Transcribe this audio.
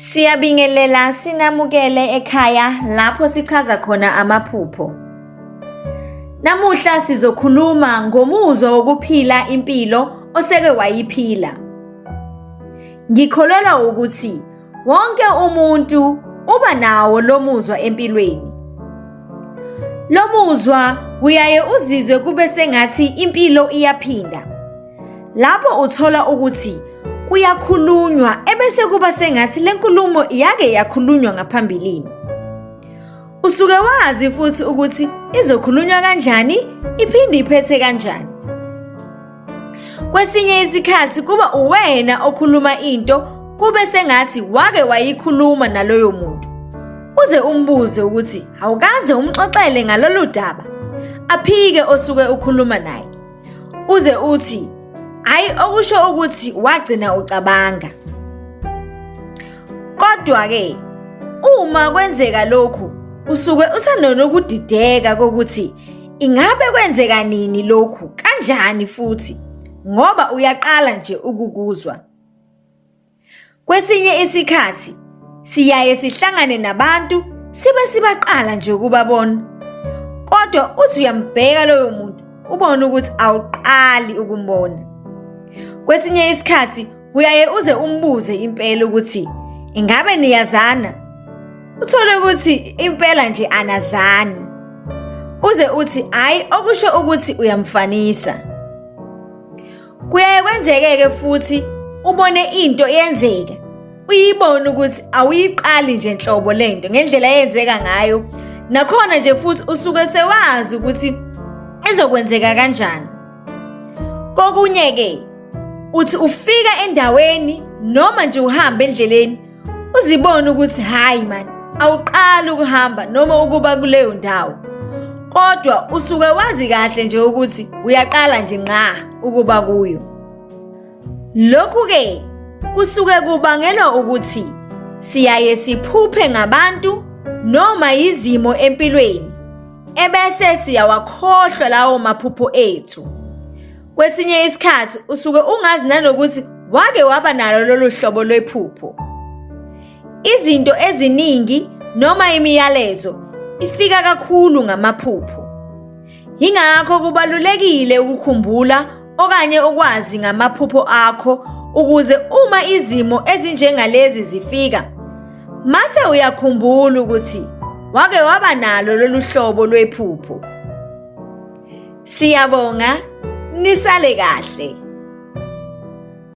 Siyabingelela sinamukele ekhaya lapho sichaza khona amaphupho. Namuhla sizokhuluma ngomuzwa wokuphila impilo oseke wayiphila. Ngikholelwa ukuthi wonke umuntu uba nawo lo muzwa empilweni. Lo muzwa uyaye uzizwe kube sengathi impilo iyaphinda Lapho uthola ukuthi kuyakhulunywa ebese kuba sengathi le nkulumo yake yakhulunywa ngaphambilini. Usuke wazi futhi ukuthi izokhulunywa kanjani iphinde iphethe kanjani. Kwesinye isikhathi kuba uwena okhuluma into kube sengathi wake wayikhuluma naloyo muntu. Uze umbuze ukuthi awukaze umxoxele ngalolu daba. Aphike osuke ukhuluma naye. uze uthi hayi okusho ukuthi wagcina ucabanga kodwa ke uma kwenzeka lokhu usuke usanonokudideka kokuthi ingabe kwenzeka nini lokhu kanjani futhi ngoba uyaqala nje ukukuzwa Kwesinye isikhathi siyaye sihlangane nabantu sibe sibaqala nje ukubabona. Kodwa uthi uyambheka loyo muntu ubone ukuthi awuqali ukumbona. Kwesinye isikhathi uyaye uze umbuze impela ukuthi ingabe niyazana? Uthole ukuthi impela nje anazani. Uze uthi hayi okusho ukuthi uyamfanisa. Kuyaye kwenzeke-ke futhi ubone into yenzeka uyibone ukuthi awuyiqali nje nhlobo le nto ngendlela eyenzeka ngayo nakhona nje futhi usuke sewazi ukuthi izokwenzeka kanjani kokunye-ke uthi ufika endaweni noma nje uhamba endleleni uzibone ukuthi hhayi mani awuqali ukuhamba noma ukuba kuleyo ndawo kodwa usuke wazi kahle nje ukuthi uyaqala nje nqa ukuba kuyo lokhu-ke kusuke kubangelwa ukuthi siyaye siphuphe ngabantu noma yizimo empilweni ebese siyawakhohlwa lawo maphupho ethu Kwesinye isikhathi usuke ungazi nanokuthi wake waba nalo lolu hlobo lwephupho. Izinto eziningi noma imiyalezo ifika kakhulu ngamaphupho. Yingakho kubalulekile ukukhumbula okanye ukwazi ngamaphupho akho ukuze uma izimo ezinjengalezi zifika mase uyakhumbula ukuthi wake waba nalo lolu hlobo lwephupho. Siyabonga nisale kahle.